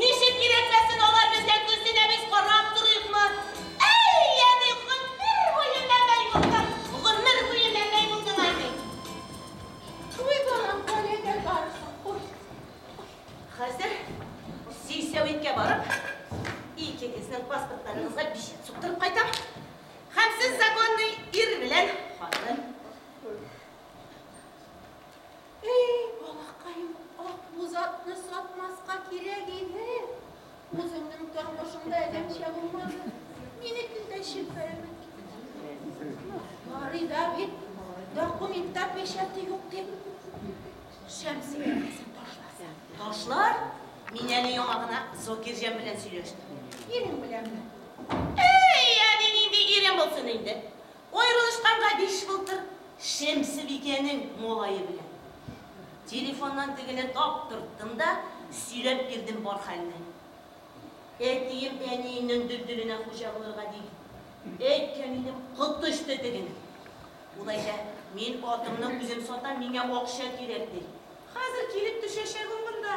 Ничек кирәкмәсен, алар безгә күз тигән, без карап торыйкмы? Әй, әби, гомер буе мәмәй булдың, гомер буе мәмәй булдың, әби. Шулай барам, кайда барасың? Ой, ой. Хәзер сельсәветкә барып, икегезнең паспортларыгызга бичәт суктырып кайтам. Һәм сез законный ир белән хатын. Әй, балакаем, атлы затны сатмаска кирәк иде. Үзеңнең тормышыңда әләмчә булмады. Мине көндә чилпәрәмә Барый да бит, документта печати юк дип. Шәмсия ташласа. Ташлар, мин әле яңа гына Зокирҗан белән сөйләштем. Ирең беләнме? Әй, әни, нинди ирем булсын инде. Аерылышканга биш былтыр Шәмсебикәнең малае белән телефоннан тегене таптырттым да сөйләп бирдем бар хәлне. Әтием әниемнең дөлдүленә хуҗа булырга дип әйткән идем, коточты тегене. Ул әйтә, мин атымны үзем сатам, миңа акча кирәк, ди. Хәзер килеп төшәчәк ул монда.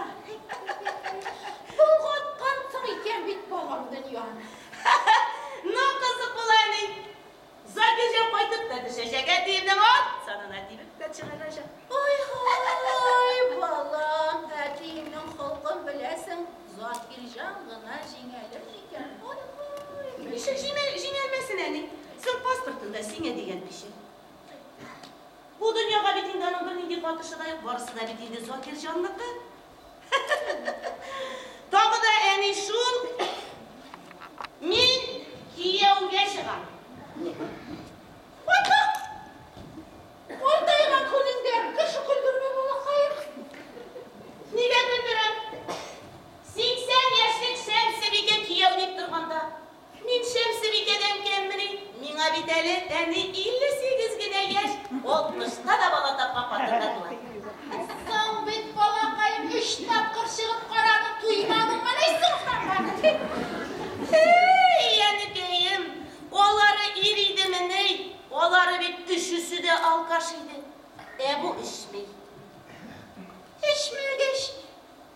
Болгатгансың икән бит балам дөньяны. Ну, кызык бул әни. Закирҗан кайтып та төшәчәк, әтиемнең ат санына тибеп тә чыгарачак. Ой-һай, балам, әтиеңнең холкын беләсең, Закирҗан гына җиңәлер микән? Ой-һай. Ничек җиңәлмәсен, әни? Соң паспортында сиңа дигән кеше. Бу дөньяга бит инде аның бернинди катышы да юк, барысы да бит инде Закир җанныкы. Тагы да әни шул, мин кияүгә чыгам. Бата! Картайган күнеңдә кеше көлдермә, балакаем. Нигә көлдерәм? Сиксән яшьлек Шәмсебикә кияү дип торганда, Мин Шәмсебикәдән кәммени? Миңа бит әле әни 58 генә яшь, 60-та да бала тапкан хатынга була. Соң бит, балакаем, өч тапкыр чыгып карадың, туймадыңмыни соң һәм аны? Әй, әнекәем, алары ир идемени, алары бит өчесе дә алкаш иде. Ә бу эчми. Эчмәгәч ни?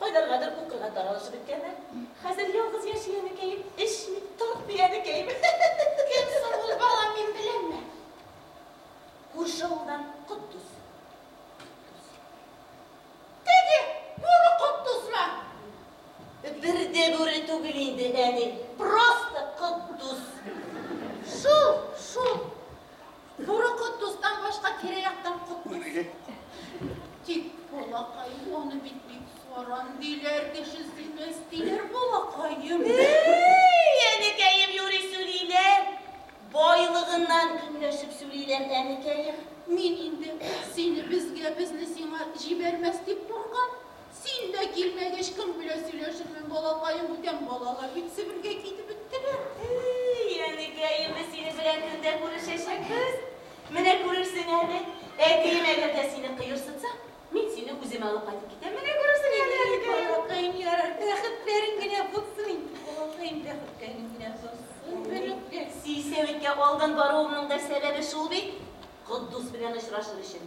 Кайларгадыр укырга таралышып беткәннәр. Хәзер ялгыз яши әнекәем, эчми, тартмый әнекәем. Кем соң ул, балам, мин беләмме? Күрше авылдан Котдус. Теге бүре Котдусмы? Бер дә бүре түгел инде, әни, просто Котдус. Шул, шул. Туры кот дустан башка тирә-яктан кот күрер. Тик балакай аны бит бик саран диләр, кеше сыймас диләр, балакаем. Әй, әнекәем, юри сүлиләр. Байлыгыннан көнләшеп сүлиләр, әнекәем. Мин инде сине безгә, безне сиңа җибәрмәс дип куркам. Син дә килмәгәч, кем белә, сөйләшермен, балакаем, бүтән балалар бит Себергә китеп беттеләр. Әй, әнекәй, инде синең белән көн дә күрешәчәкбез. Менә күрерсең әле. Әтием әгәр дә сине кыерсытса, мин сине үземә алып кайтып китәм, менә күрерсең инде, әнекәем. Әй, балакаем, ярар, бәхетләрең генә булсын инде, балакаем, бәхетләрең генә булсын, бәләкәй. Силсәвиткә алдан баруымның да сәбәбе шул бит, Котдус белән очрашыр өчен.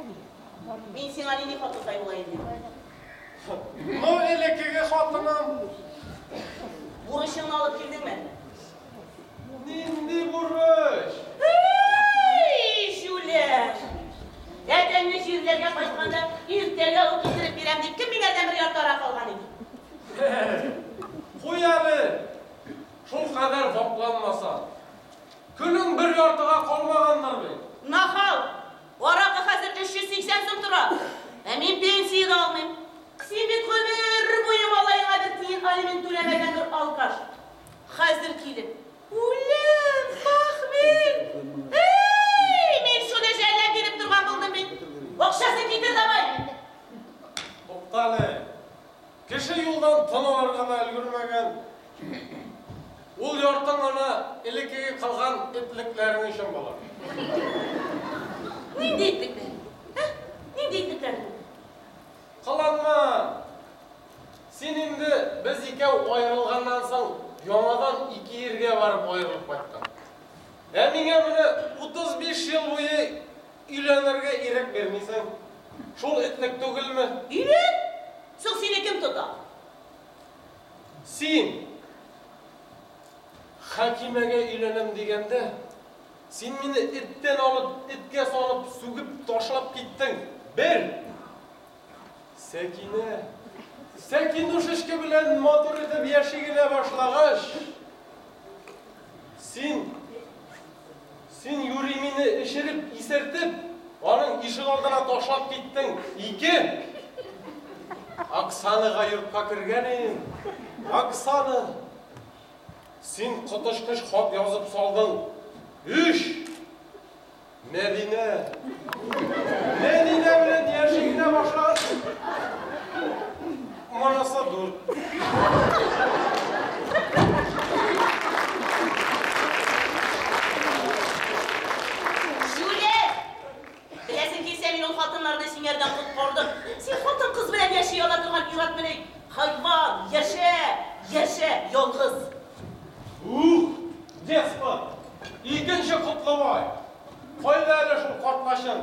Әби, бар. Мин сиңа нинди хатын сай була инде? Ну, элеккеге хатының. Бурычыңны алып килдеңме? Нинди бурыч? Һи-и-и, җүләр! Әтәңне җирләргә кайтканда, иртәгә үк китереп бирәм дип, кем минәрдән бер яртыарак алган иде? Куй әле, шул кадәр вакланмасаң. Көнең бер яртыга калмагандыр бит? Нахал! Аракы хәзер 380 сум тора. Ә мин пенсия дә алмыйм. Син бит гомер буе малаеңа бер тиен алимент түләмәгән бер алкаш. Хәзер килеп, Үлем, похмель! Һе-й, мин шуны жәлләп биреп торган булдым бит. Акчасын китер давай! Туктале. Кеше юлдан тын алырга да өлгермәгән. Ул яртың ана элеккеге калган этлекләрең өчен була. Нинди этлекләр? Ә? Нинди этлекләр бу? Кыланма! Син инде без икәү аерылганнан соң яңадан ике иргә барып аерылып кайттың. Ә миңа менә 35 ел буе Өйләнергә ирек бирмисең. Шул этнек түгелме? Ирек? Соң сине кем тота? Син! Хәкимәгә өйләнәм дигәндә, син мине эттән алып, эткә салып, сүгеп ташлап киттең. Бер! Сәкинә, Сәкинушечка белән матур итеп яши генә башлагач, син. Син юри мине эчереп, исертеп, аның ишек алдына ташлап киттең, ике! Оксанага йортка кергәнең, Оксана! Син коточкыч хат язып салдың, өч! Мәдинә! Мәдинә белән яши генә башлагансың! Манасы дүрт. Җүләр! Беләсең килсә, мин ул хатыннарны сиңәрдән коткардым. Син хатын кыз белән яши ала торган ират мени? Хайван, яшә, яшә, ялгыз. Ух, деспот! Икенче котлымай! Кайда әле шул картлачын?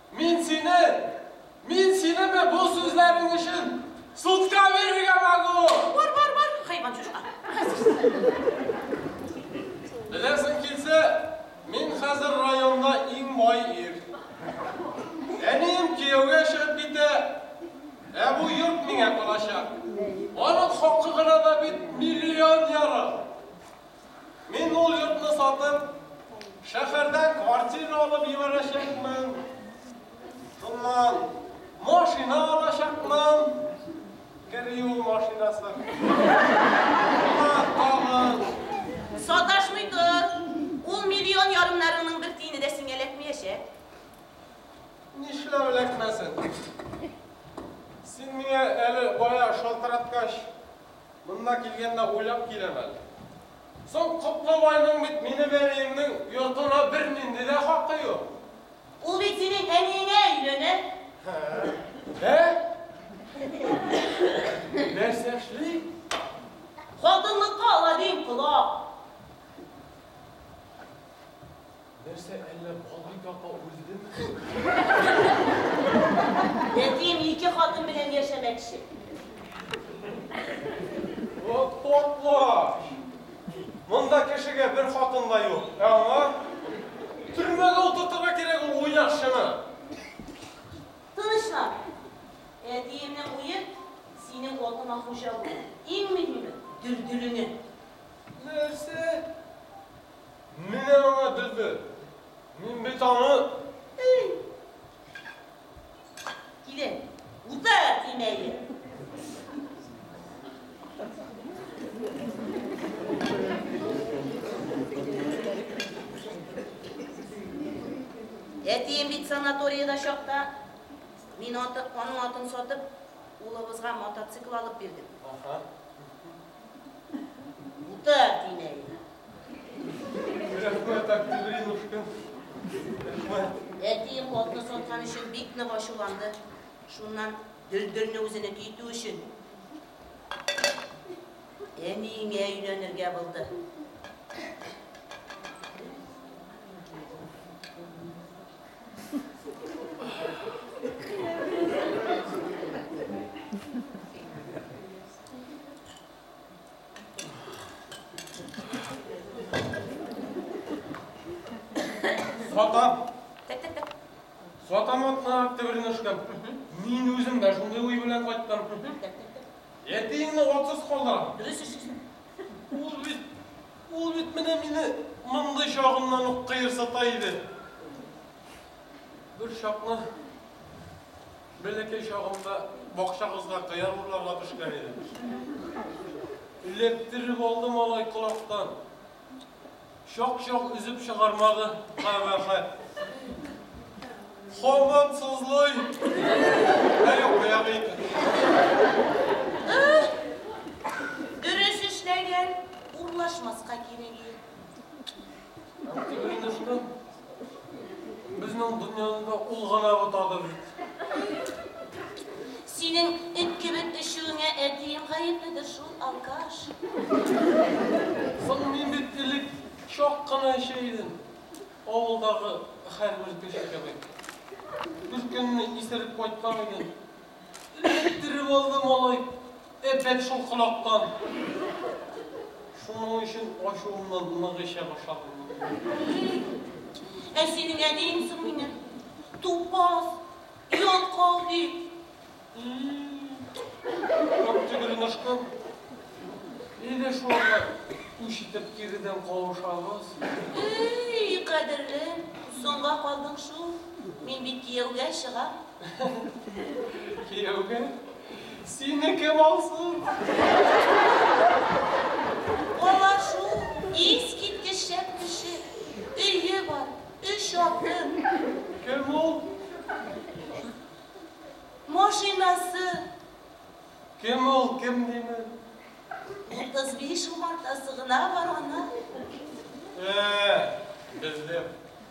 Мин сине, мин синеме бу сүзләрең өчен судка бирергә могу! Бар, бар, бар, хайван чучка, Беләсең килсә, мин хәзер районда иң бай ир. Әнием кияүгә чыгып китә, ә бу йорт миңа калачак. Аның хакы гына да бит миллион ярым! Мин ул йортны сатып, шәһәрдә квартира алып җибәрәчәкмен. Шуннан машина алачакмын. Криу машинасы. Саташмый тор. Ул миллион ярымнарыңның бер тиене дә сиңа эләкмәячәк. Нишләп эләкмәсен? Син миңа әле бая шалтыраткач, Монда килгәндә уйлап киләм әле. Соң Котлыбайның бит минем әниемнең йортына бернинди дә хакы юк. Ул бит синең әниеңә өйләнә. Ә? Нәрсә эшли? Хатынлыкка ала, дим, колак. Нәрсә, әллә Балбикә апа үлдеме соң? Әтием ике хатын белән яшәмәкче. Вот потлач! Монда кешегә бер хатын да юк, ә аңа төрмәгә утыртырга кирәк ул уйнакчыны! Тынычлан! Әтиемнең уе, синең атыңа хуҗа булу, иң мөһиме, Дөлдөлеңә. Нәрсә? Менә аңа бөбер. Мин бит аны Ий! Килен, утыр, дим әле. Әтием бит санаториядә чакта, мин аты, аның атын сатып, улыбызга мотоцикл алып бирдем. Аха. Утыр, әтинәй. Рәхмәт, Октябринушка. Рәхмәт. Әтием хатны саткан өчен бик нык ачуланды. Шуннан Дөлдөлне үзенеке итү өчен әниеңә өйләнергә булды. Сатам. Сатам атна төбелен өшкәм. Мин үзем дә шундый уй белән кайттым. Әтиеңне атсыз калдырам. Дөрес эшлисең. Ул бит, ул бит менә мине мондый чагымнан ук кыерсыта иде. Бер чакны Бәләкәй чагымда бакчагызга кыяр урларга төшкән идем. Эләктереп алды малай колактан. Чак-чак өзеп чыгармады, кабахәт. Хаман сызлый. Ә юк, кыяр икән. Дөрес эшләгән, урлашмаска кирәге юк. Антигринушка Безнең дөньяны ул гына бутады бит. Синең эт кебек эчүеңә әтием гаепледер шул, алкаш. Соң мин бит элек чак кына эчә идем, авылдагы һәрбер кеше кебек. Беркөнне исереп кайткан идем. Эләктереп алды малай әпәт шул колактан. Шуның өчен ачуымнан нык эчә башладым. Ә синең әниең соң минем, тупас, ялкау бит. Кап төгерен ычкын. Әйдә шул арада үч итеп киредән кавышабыз. Эй, кадерлем, соңга калдың шул. Мин бит кияүгә чыгам. Кияүгә сине кем алсын? Алар шул искиткеч шәп кеше. Өе бар, өч аты. Кем ул? Машинасы. Кем ул, кем диме? Утыз биш умартасы гына бар аның. Ә, белдем.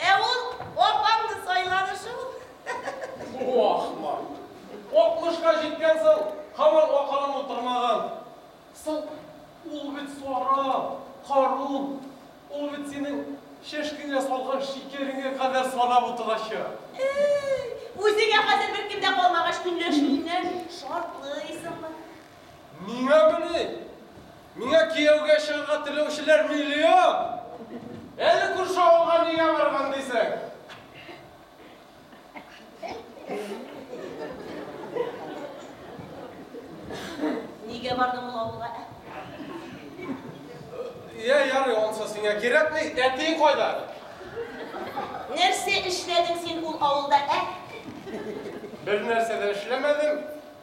Ә ул апаңны сайлагы шул. Бу ахмак. Алтмышка җиткән соң, һаман акылың утырмаган. Соң, ул бит сара, карун, ул бит синең чәшкеңә салган шикәреңә кадәр санап утырачак. Әй, үзеңә хәзер беркем дә калмагач, көнләшүеңнән шартлыйсыңмы? Миңа мени? Миңа кияүгә чыгарга теләүчеләр миллион! Әле күрше авылга нигә барган дисең? Нигә бардың ул авылга, ә? Йә, ярый, ансы сиңа кирәкми. Әтиең кайда? Нәрсә эшләдең син ул авылда, ә? Бер нәрсә дә эшләмәдем.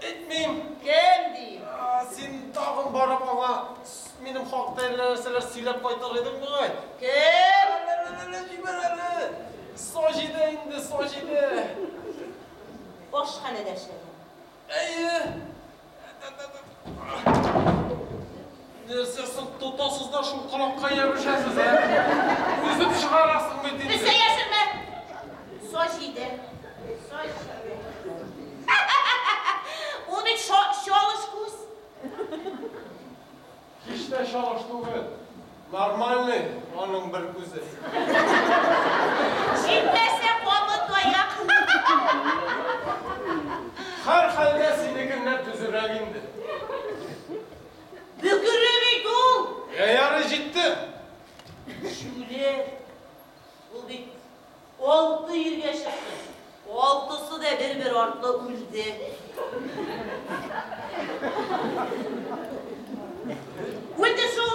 Әйтмим! Кем ди? Син тагын барып аңа минем хакта әллә нәрсәләр сөйләп кайтыр идең бугай. Кем? Әләләләлә, җибәр әле! Саҗидә инде, Саҗидә! Ашханәдә эшләгән. Әйе. Ә-ә-ә-ә. Нәрсә соң, тотасыз да шул колакка ябышасыз, ә? Өзеп чыгарасың бит инде. Эзлә яшермә! Со җиде. Со җиде. Ул бит шо, чалыш күз. Һич тә чалыш түгел. Нормальный аның бер күзе. Җитмәсә, кабы таяк. Һәрхәлдә, синекеннән төзерәк инде. Бөкере бит ул! Йә, ярый, җитте! Шүле! Ул бит алты иргә чыкты. Алтысы да бер-бер артлы үлде. Үлде шул!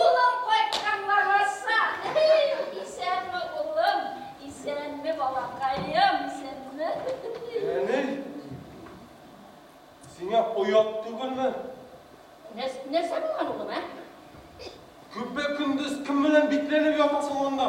Улым кайтканга барса, Исәнме, улым, исәнме, балакаем, исәнме? Әни, сиңа оят түгелме? Нәрсә булган, улым, ә? Көпә-көндез кем белән бикләнеп ятасың монда?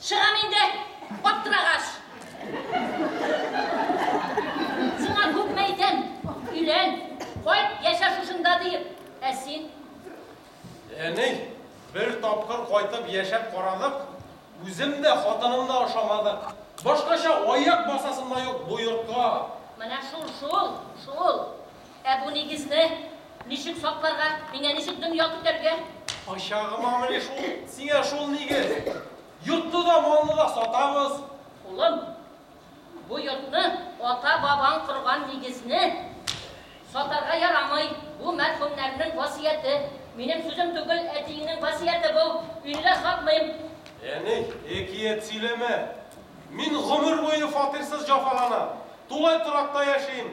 Чыгам инде, аттырагач! Сиңа күпме әйтәм, өйлән, кайт, яшә шушында диеп, ә син? Әни, бер тапкыр кайтып яшәп карадык, үзем дә, хатыным да ошамадык. Башкача аяк басасым да юк бу йортка. Менә шул, шул, шул. Ә бу нигезне ничек сакларга? Миңа ничек дөнья көтәргә? Кайчагымамыни шул сиңа шул нигез? Йортны да, малны да сатабыз. Улым, бу йортны, ата-бабаң корган нигезне сатарга ярамый. Бу, мәрхүмнәрнең васыяте. Минем сүзем түгел, әтиеңнең васыяте бу. Өйне дә сатмыйм. Әни, әкият сөйләмә. Мин гомер буе фатирсыз җафаланам. Тулай торакта яшим.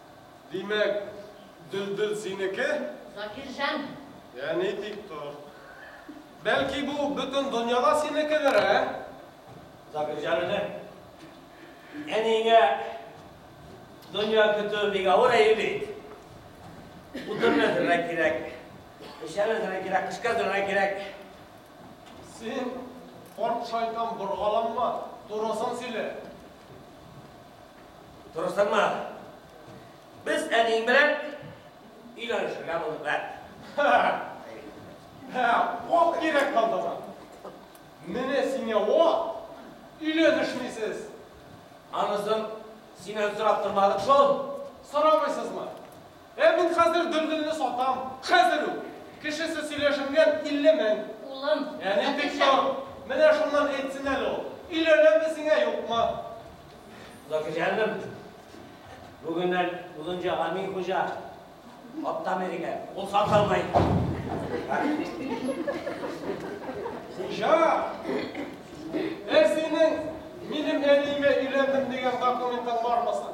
Димәк, Дөлдөл синеке? Закирҗан! Йә, ни тик тор. Бәлки бу бөтен дөнья да синекедер, ә? Закирҗанның әниеңә дөнья көтүе бик авыр әйб бит. Утын әзерләргә кирәк, печән әзерләргә кирәк, кышка әзерләргә кирәк. Син, карт шайтан, боргаланма, турысын сөйлә. Дөрес аңлады. Без әниең белән өйләнешергә булдык, ә? Һә, ок кирәк калды ма? Менә сиңа ок, өйләнешмисез. Анысын синнән сорап тормадык шул. Сорамыйсызмы? Ә мин хәзер Дөлдөлне сатам. Хәзер үк! Кешесе сөйләшенгән, илле мең. Улым, Әни, тик Закирҗан. тор! Менә шуннан әйтсен әле ул, өйләнәме сиңа, юкмы? Закирҗаным, бүгеннән Озынҗа Гамин хуҗа ат та мендерә. Ул хат алмый. Хуҗа! Ә синең минем әниемә өйләндем дигән документың бармы соң?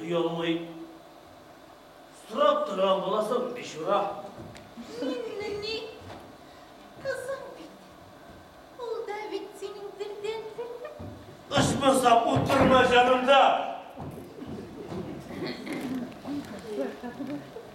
Оялмый. Сорап торам буласың, бичура. Миннең ни? Кызың бит. Ул да бит синең телдән телле. Ычмаса утырма җанымда.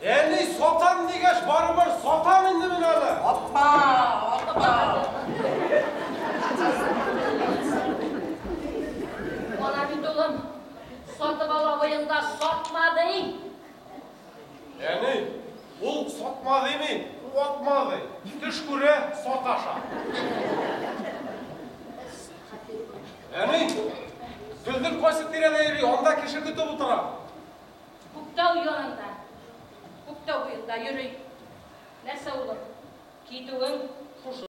Әни, сатам дигәч, барыбер сатам инде мин аны! Аппа! Аппа! Ана бит улым, сатып ал абыең да сатма ди! Әни, ул сатма дими, ватма ди. Төш күрә, саташа. Әни, Гөлнур кайсы тирәдә йөри, анда кеше көтеп утыра. Күктау янында, Күктау буенда йөри. Нәрсә улым, китүең шушы.